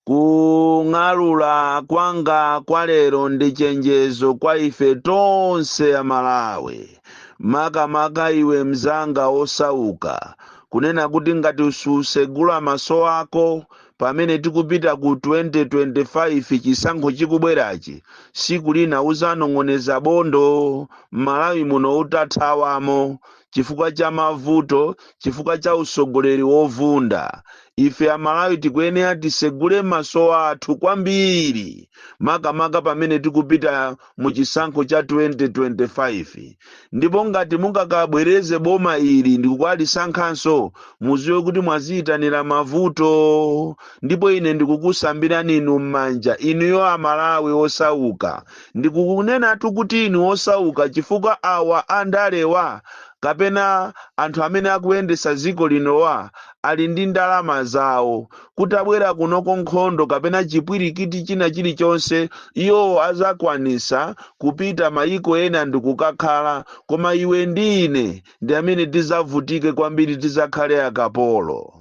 kung'alula kwanga kwa lero ndi chenjezo kwa ife tonse a malawi makamaka iwe mzanga osauka kunena kuti ngati susegula maso ako pamene tikupita ku 2025 chisankho chikubwerachi tsiku lina uzanong'oneza bondo m'malawi muno utathawamo chifukwa cha mavuto, chifukwa cha usogoleri wovunda. Ife Amalawi tikuyenera tisegule maso athu kwambiri makamaka pamene tikupita mu chisankho cha 2025 ndipo ngati mungakabwereze boma ili ndikukalisankhanso mudziwe kuti mwaziyitanira mavuto ndipo ine ndikukusambirani inu m'manja inuyo Amalawi osauka Ndikukunenatu kuti inu osauka chifukwa awa a ndalewa kapena anthu amene akuyendesa dziko linowa ali ndi ndalama zawo. Kutabwera kunoko nkhondo kapena chipwirikiti china chilichonse iwowo azakwanisa kupita mayiko ena ndikukakhala koma iwe ndi ine ndi amene tizavutike kwambiri tizakhale akapolo.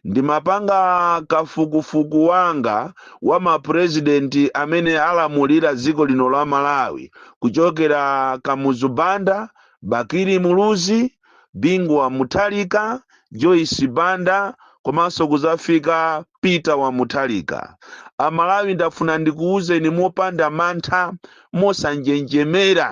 Ndimapanga kafukufuku wanga wa ma president amene alamulira dziko lino la Malawi kuchokera Kamuzu Banda, Bakili Muluzi, Bingu wa Mutharika, Joyce Banda komanso kuzafika Peter wa Mutharika. A Malawi ndafuna ndikuuzeni mopanda mantha, mosanjenjemera.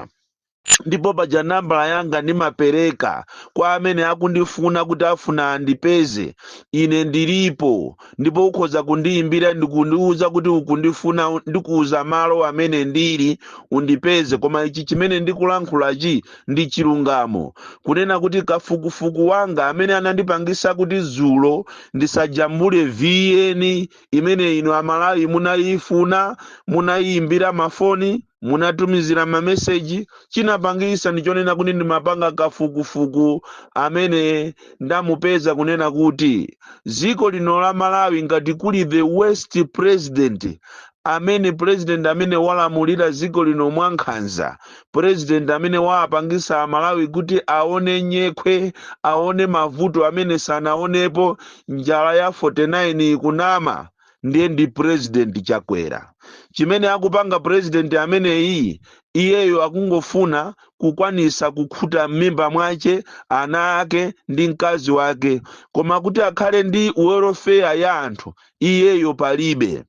ndipo paja nambala yanga ndimapereka kwa amene akundifuna kuti afuna andipeze ine ndilipo ndipo ukhoza kundiyimbira ndikundiwuza kuti ukundifuna u- ndikuwuza malo amene ndili undipeze koma ichi chimene ndikulankhulachi ndi chilungamo kunena kuti kafukufuku wanga amene anandipangisa kuti dzulo ndisajambule VN imene inu amalawi munayifuna munayiyimbira mafoni munatumizira mameseji chinapangisa ndi chonena kuti ndimapanga kafukufuku amene ndamupeza kunena kuti dziko lino la malawi ngati kuli the worst president amene president amene walamulira dziko lino mwankhanza president amene waapangisa amalawi kuti aone nyekhwe aone mavuto amene sanaonepo njala ya 49 ikunama ndiye ndi president chakwera chimene akupanga president ameneyi iyeyo akungofuna kukwanisa kukhuta m'mimba mwace ana ake ndi mkazi wake koma kuti akhale ndi welfare ya anthu iyeyo palibe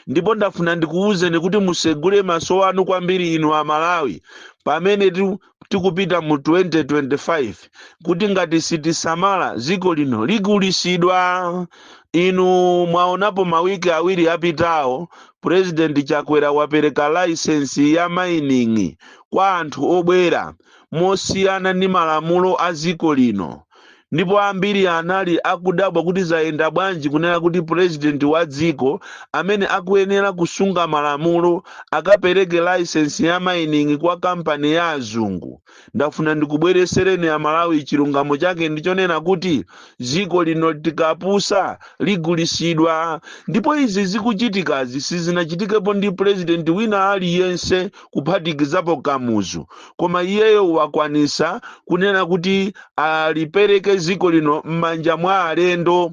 ndipo ndafuna ndikuwuzeni kuti musegule maso anu kwambiri inu amalawi pamene ti- tikupita mu 2025 kuti ngati sitisamala dziko lino ligulisidwa inu mwaonapo mawiki awiri apitawo purezidenti chakwera wapereka laisensi ya mining kwa anthu obwera mosiyana ndi malamulo a dziko lino ndipo ambiri anali akudabwa kuti zayenda bwanji kunena kuti president wa dziko amene akuyenera kusunga malamulo akapereke license ya mining kwa kampani ya azungu ndafuna ndikubweresereni amalawi chilungamo chake ndichonena kuti dziko lino tikapusa ligulisidwa ndipo izi zikuchitikazi sizinachitikepo ndi president wina aliyense kuphatikizapo kamuzu koma iyeyo wakwanisa kunena kuti alipereke ziko lino m'manja mwa alendo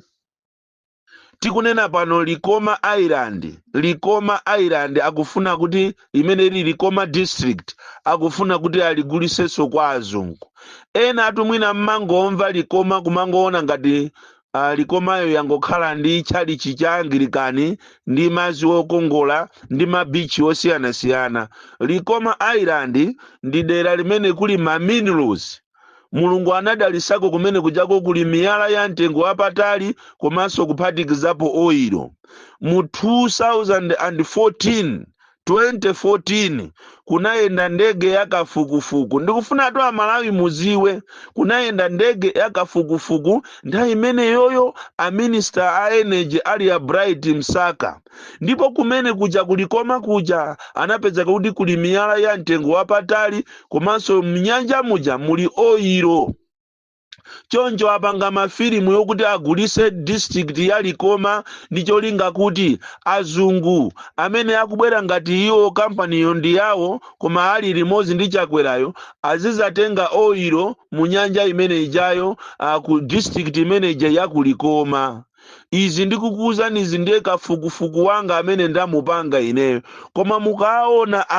tikunena pano likoma island likoma island akufuna kuti limene lili likoma district akufuna kuti aligulisenso kwa azungu enaatu mwina mmangomva likoma kumangoona ngati Likomayo yangokhala ndi chalichi cha Angilikani ndi madzi okongola ndi mabichi osiyanasiyana. Likoma Island ndi dera limene kuli ma minerals. Mulungu anadalisako kumene kujako kuli miyala ya mtengo wapatali komanso kuphatikizapo oil. Mu 2014 14 kunayenda ndege ya kafukufuku ndikufunatu amalawi muziwe kunayenda ndege ya kafukufuku nthawi imeneyoyo a minister a energy ali a bright msaka ndipo kumene kuja kulikoma kuja anapezeka kuti kuli miyala ya mtengo wapatali komanso mnyanja muja muli oyiro choncho apanga mafilimu yokuti agulise district ya likoma ndi cholinga kuti azungu amene akubwera ngati iwo kampaniyo ndi yawo koma ali limodzi ndi chakwerayo azizatenga oilo mu nyanja imene ijayo ku district imene ija ya ku likoma izi ndikukuuzani izi ndiye kafukufuku wanga amene ndamupanga ineyo koma mukaona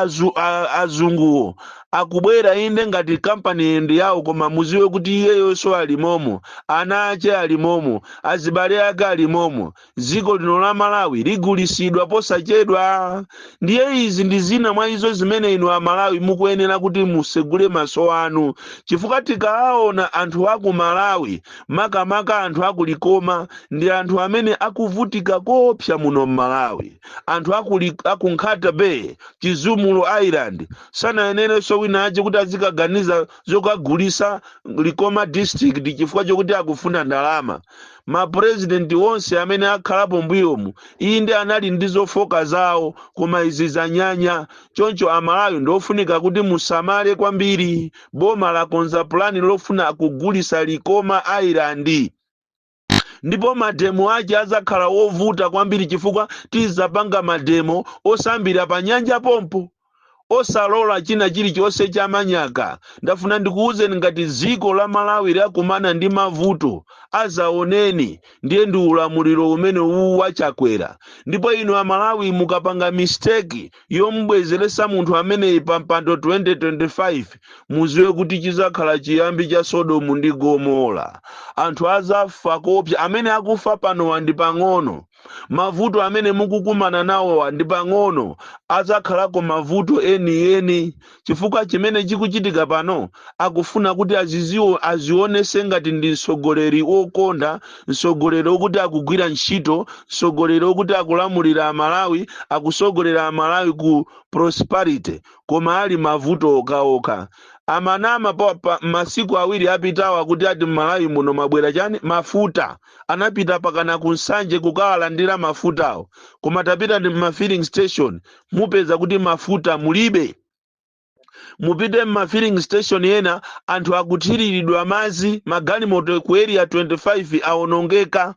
azunguwo akubwera inde ngati kampani ndi yawo koma muziwe kuti iyeyonso alimomo ana ache alimomo azibale ake alimomo dziko lino la malawi ligulisidwa posachedwa ndiye izi ndi zina mwa izo zimene inu amalawi mukuyenera kuti musegule maso anu chifukwa tikaona anthu aku malawi makamaka anthu aku Likoma ndi anthu amene akuvutika koopsa muno m'Malawi. Anthu aku, Li- aku Nkhata Bay, Chizumulu Island sanayenerenso wina wake kuti azikaganiza zokagulisa Likoma district chifukwa chokuti akufuna ndalama. Mapurezidenti onse amene akhalapo mbuyomu inde anali ndi zofoka zawo koma izi zanyanya. Choncho Amalawi ndiofunika kuti musamale kwambiri. Boma lakonza pulani lofuna kugulisa Likoma Island ndipo mademo ake adzakhala ovuta kwambiri chifukwa tidzapanga mademo osambira panyanja pompo. Osalola china chilichonse cha manyaka. Ndafuna ndikuuzeni ngati dziko la Malawi lakumana ndi mavuto azaoneni ndiye ndi ulamuliro umene uwu wa Chakwera ndipo inu Amalawi mukapanga mistake yomubwezeretsa munthu ameneyi pa mpando 2025 muziwe kuti chizakhala chiyambi cha sodomu ndi gomora anthu azafa koopsa amene akufa panowa ndi pang'ono mavuto amene mukukumana nawowa ndi pang'ono azakhalako mavuto enieni chifukwa chimene chikuchitika pano akufuna kuti azionese ngati ndi mtsogoleri wokonda mtsogoleri wokuti akugwira ntchito mtsogoleri wokuti akulamulira amalawi akusogolera amalawi ku prosperity koma ali mavuto okhaokha amanama masiku awiri apitawa kuti ati mmalawi muno mabwera chani mafuta anapita mpakana ku nsanje kukawalandira mafutawo koma tapitani mma filling station mukapeza kuti mafuta mulibe mupite mma filling station ena anthu akuthiriridwa madzi magalimoto ku area 25 awonongeka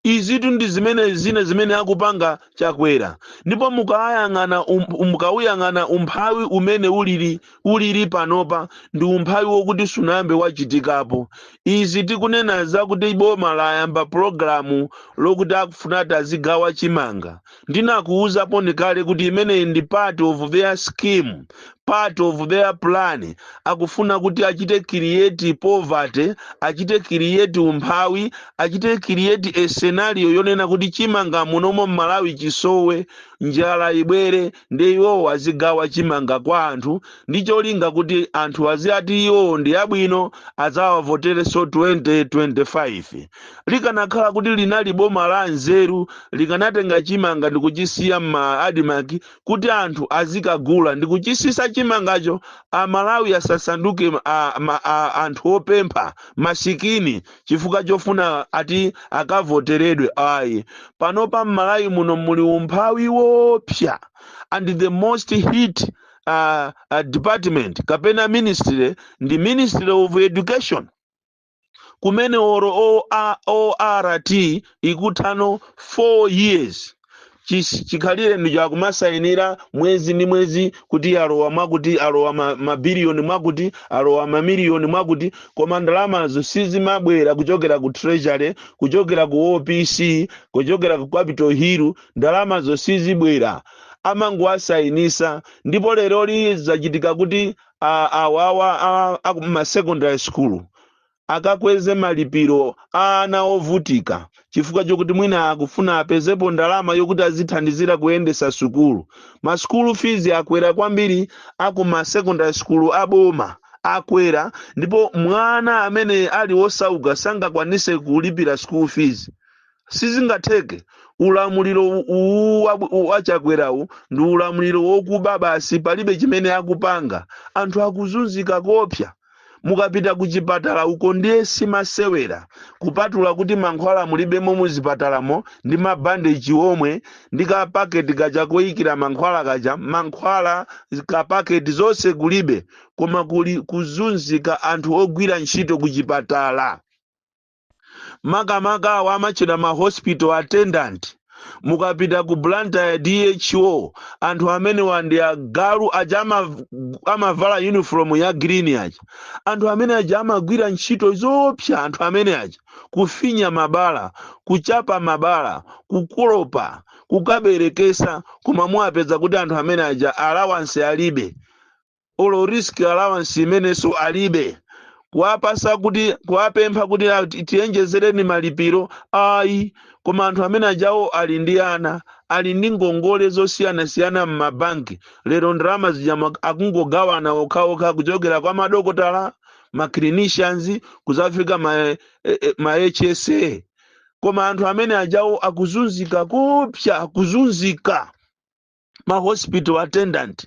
izitu ndi zimene zina zimene akupanga chakwera ndipo mukawuyang'ana umphawi umene ulili ulili panopa ndi umphawi wokuti sunayambe wachitikapo. Izi tikunena zakuti boma layamba pulogalamu lokuti akufuna ati azigawa chimanga. Ndinakuuzanipo kale kuti imeneyi ndi part of their scheme, part of their plan. Akufuna kuti achite create poverty, achite create umphawi, achite create a scenario yonena kuti chimanga munomo m'Malawi chisowe, njala ibwere. ndiye iwowo azigawa chimanga kwa anthu ndi cholinga kuti anthu aziati iwowo ndi abwino adzawavoterenso 2025 likanakhala kuti linali boma la nzeru likanatenga chimanga ndi kuchisiya mma admarc kuti anthu azikagula ndi kuchisisa chimangacho amalawi asasanduke a- anthu opempha masikini chifukwa chofuna ati akavoteredwe ayi panopa mmalawi muno muli umphawi wopsa and the most hit uh, uh, department kapena ministry ndi ministry of education kumene olo ORT ikutha no 4 years chis- chikhalire ndi cha kumasayinira mwezi ndi mwezi kuti alowa mwakuti alowa ma- mabiliyoni mwakuti alowa mamiliyoni mwakuti koma ndalamazo sizimabwera kuchokera ku treasury kuchokera ku opc kuchokera ku capital hill ndalamazo sizibwera amangowasayinisa ndipo leroli zachitika kuti a- awawa a- a ku ma secondary school akakweze malipiro a ana ovutika chifukwa chokuti mwina akufuna apezepo ndalama yokuti azithandizira kuyendesa sukulu ma school fees akwera kwambiri a ku ma secondary school aboma akwera ndipo mwana amene ali osauka sangakwanise kulipira school fees sizingatheke ulamuliro u- uwu wa- u- wa Chakwerawu ndi ulamuliro wokuba basi palibe chimene akupanga anthu akuzunzika koopsa mukapita ku chipatala uko ndiye si masewera kupatula kuti mankhwala mulibemo mu zipatalamo ndi mabandeji omwe ndi kapaketi kaja koyikira mankhwala kaja mankhwala kapaketi zonse kulibe koma kuli kuzunzika anthu ogwira ntchito ku chipatala makamaka awa amatchedwa ma hospital attendant mukapita ku blantyre dho anthu amenewa ndi agalu aja ama- amavala uniform ya green aja anthu amene aja amagwira ntchito zoopsa anthu amene aja kufinya mabala kuchapa mabala kukolopa kukaberekesa koma muwapeza kuti anthu amene aja allowance alibe olo risk allowance imenenso alibe kuwapasa kuti kuwapempha kuti "Ah, ti- tiyenjezereni malipiro ayi koma anthu amene ajawo ali ndi ana ali ndi ngongole zosiyanasiyana m'mabanki lero ndalama zija ma- akungogawana okhaokha kuchokera kwa madokotala ma clinicians kuzafika ma, eh, eh, ma hsa koma anthu amene ajawo akuzunzika koopsa akuzunzika ma hospital attendant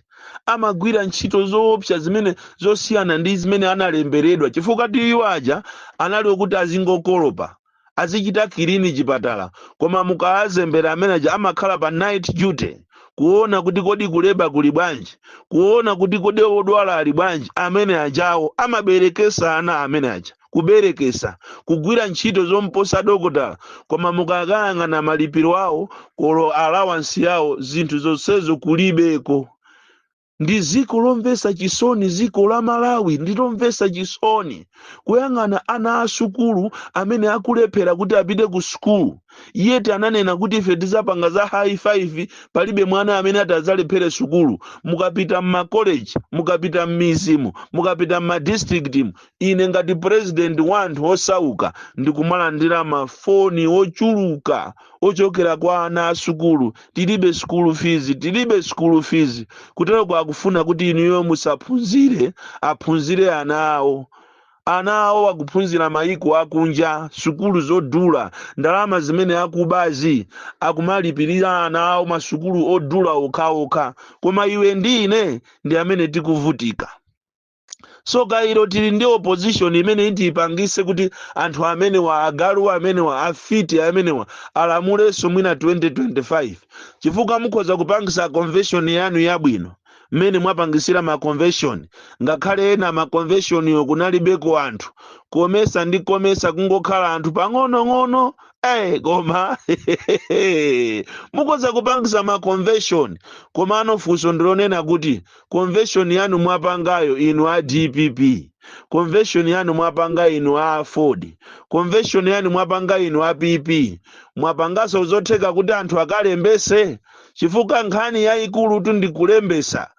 amagwira ntchito zoopsa zimene zosiyana ndi zimene analemberedwa chifukwa iwo aja anali okuti azingokolopa azichita clean chipatala koma mukawazembera amene aja amakhala pa night duty kuona kuti kodi ku labour kuli bwanji kuona kuti kodi odwala ali bwanji amene ajawo amaberekesa ana amene aja kuberekesa kugwira ntchito zomposa dokotala koma mukakayang'ana malipiro awo kolo alawansi yawo zinthu zonsezo kulibeko ndi ziko lomvesa chisoni ziko la malawi ndilomvesa chisoni kuyang'ana ana a sukulu amene akulephera kuti apite ku sukulu yeti ananena kuti ife tizapanga za high five palibe mwana amene ati adzalephere sukulu mukapita mmakoleji mukapita mmizimu mukapita mmadistrictimu ine ngati purezidenti wa anthu osauka ndikumalandira mafoni ochuluka ochokera kwa ana a sukulu tilibe sukulu fizi tilibe sukulu fizi kuteroko akufuna kuti inuyo musaphunzire aphunzire ana awo ana awo akuphunzira mayiko akunja sukulu zodula ndalama zimene akubazi akumalipirira ana awo masukulu odula okhaokha koma iwe ndi ine ndi amene tikuvutika so kaya tili ndi opposition imene itipangise kuti anthu amenewa agalu amenewa afiti amenewa alamulenso mwina 2025 chifukwa mukhoza kupangisa convention yanu yabwino mmene mwapangisira ma convention ngakhale ena ma conventionyo kunalibeko anthu komesa ndi komesa kungokhala anthu pang'onong'ono eh koma mukhoza kupangisa ma convention komano funso ndilonena kuti convention yanu mwapangayo inu a dpp convention yanu mwapanga inu a aford convention yanu mwapanga inu a pp mwapangaso zotheka kuti anthu akalembese chifukwa nkhani yayikulutu ndikulembesa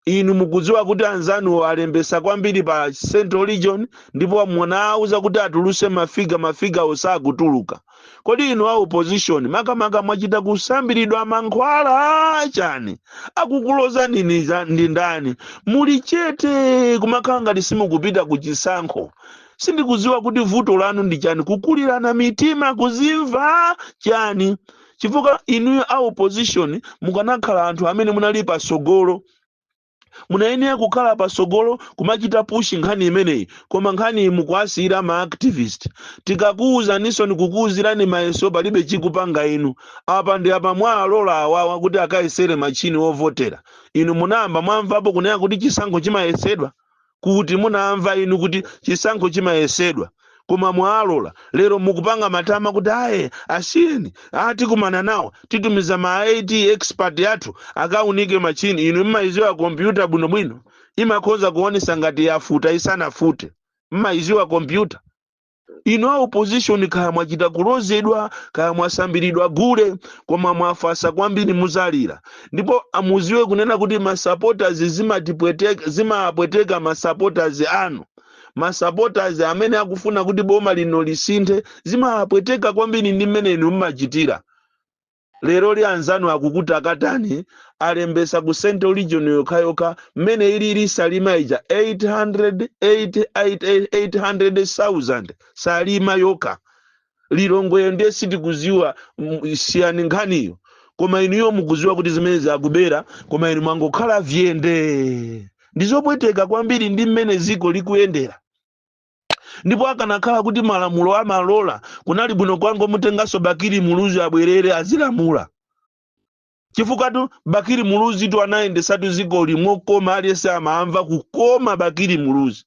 inu mukudziwa kuti anzanuwo alembesa kwambiri pa central region ndipo munawauza kuti atuluse mafiga mafiga osakutuluka kodi inu a opposition makamaka mwachita kusambiridwa mankhwala chani akukulozani ni ndi ndani muli chete kumakhala ngati simukupita ku chisankho sindikudziwa kuti vuto lanu ndi chani kukulirana mitima kuzimva chani chifukwa inuyo a opposition mukanakhala anthu amene munali pasogolo munayenera kukhala patsogolo kumachita pushi nkhani imeneyi koma nkhaniyi mukuwasiyira ma activist tikakuwuzaninso nikukuwuzirani mayeso palibe chikupanga inu apa ndi apa mwawalola awawa kuti akayesere machini ovotera inu munayamba mwamvapo kunena kuti chisankho chimayesedwa kuti munamva inu kuti chisankho chimayesedwa koma mwalola lero mukupanga matama kuti ayi asiyeni tikumana nawo titumiza ma it expert athu akaunike machini inu mmayiziwa kompyuta bwinobwino imakhoza kuonesa ngati yafuta isanafute mmayiziwa kompyuta inu a opposition kaya mwachita kulozedwa kaya mwasambiridwa gule koma mwafasa kwambiri muzalira ndipo muziwe kunena kuti masupporters zimatipweteka zimapweteka masupporters anu masupporters amene akufuna kuti boma lino lisinthe zimapweteka kwambiri ndi mmene inu mmachitira leroli anzanu akukutakatani alembesa ku central region yokhayokha mmene ilili salima ija 800 8 8 800,000 salima yokha lilongweyo ndiye sitikuziwa mm, siyani nkhaniyo koma inuyo mukuziwa kuti zimenezi zakubera koma inu mwangokhala vyende ndizopweteka kwambiri ndi mmene ziko likuyendera ndipo akanakhala kuti malamulo amalola kunali bwino kwangomutenganso bakiri muluzi abwerere azilamula chifukwa tu bakiri muluzi tu anayendesatu dziko lino koma aliyense amamva kukoma bakiri muluzi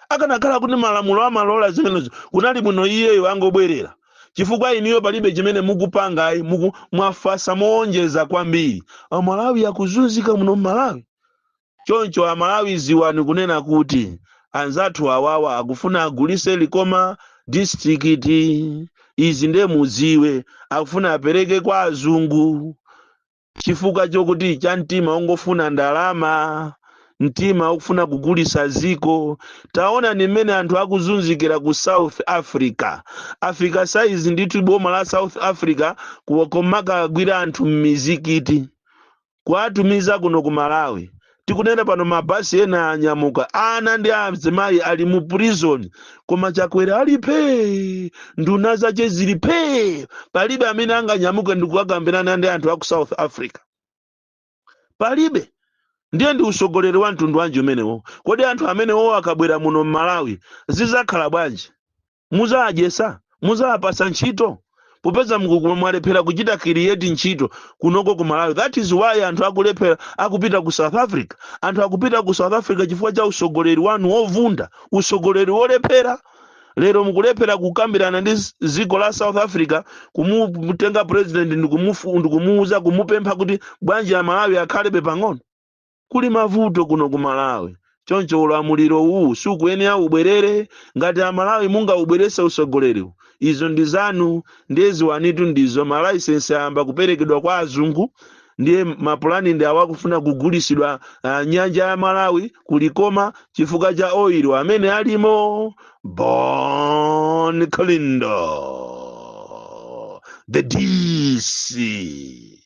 akanakhala kuti malamulo amalola zimenezo kunali bwino iyeyo angobwerera chifukwa inuyo palibe chimene mukupanga ayi muku mwafasa moonjeza kwambiri amalawi akuzunzika muno mmalawi Choncho amalawi ziwani kunena kuti anzathu awawa akufuna agulise likoma district izi nde muziwe akufuna apereke kwa azungu chifukwa chokuti cha mtima ongofuna ndalama mtima okufuna kugulisa ziko taonani mmene anthu akuzunzikira ku south africa afika saizi ndithu boma la south africa kumakawagwira anthu mmizikiti kuwatumiza kuno ku malawi tikunena pano mabasi ena anyamuka ana ndi azimayi ali mu prison koma chakwera ali phee nduna zache zili phee palibe amene anganyamuke ndikukakambirana ndi anthu aku south africa palibe ndiye ndi usogoleri wa mtundu wanji umenewo kodi anthu amenewo akabwera muno mmalawi zizakhala bwanji muzawadyesa muzawapasa ntchito popeza mukukuma mwalephera kuchita create ntchito kunoko ku malawi that is why anthu akulephera akupita ku south africa anthu akupita ku south africa chifukwa cha usogoleri wanu wovunda usogoleri wolephera lero mukulephera kukambirana ndi z- dziko la south africa kumutenga president ndikumufu- ndikumuuza kumupempha kuti bwanji amalawi akhalebe pang'ono Kuli mavuto kuno ku Malawi choncho ulamuliro uwu sukuyenera ubwerere. Ngati a Malawi mungaubwerese usogoleriwu izo ndi zanu ndiye ziwanitu ndizo ma license ayamba kuperekedwa kwa azungu ndiye ma plan ndi awo akufuna kugulisidwa uh, nyanja ya Malawi ku Likoma chifukwa cha oil amene alimo. Bon Kalindo the DC.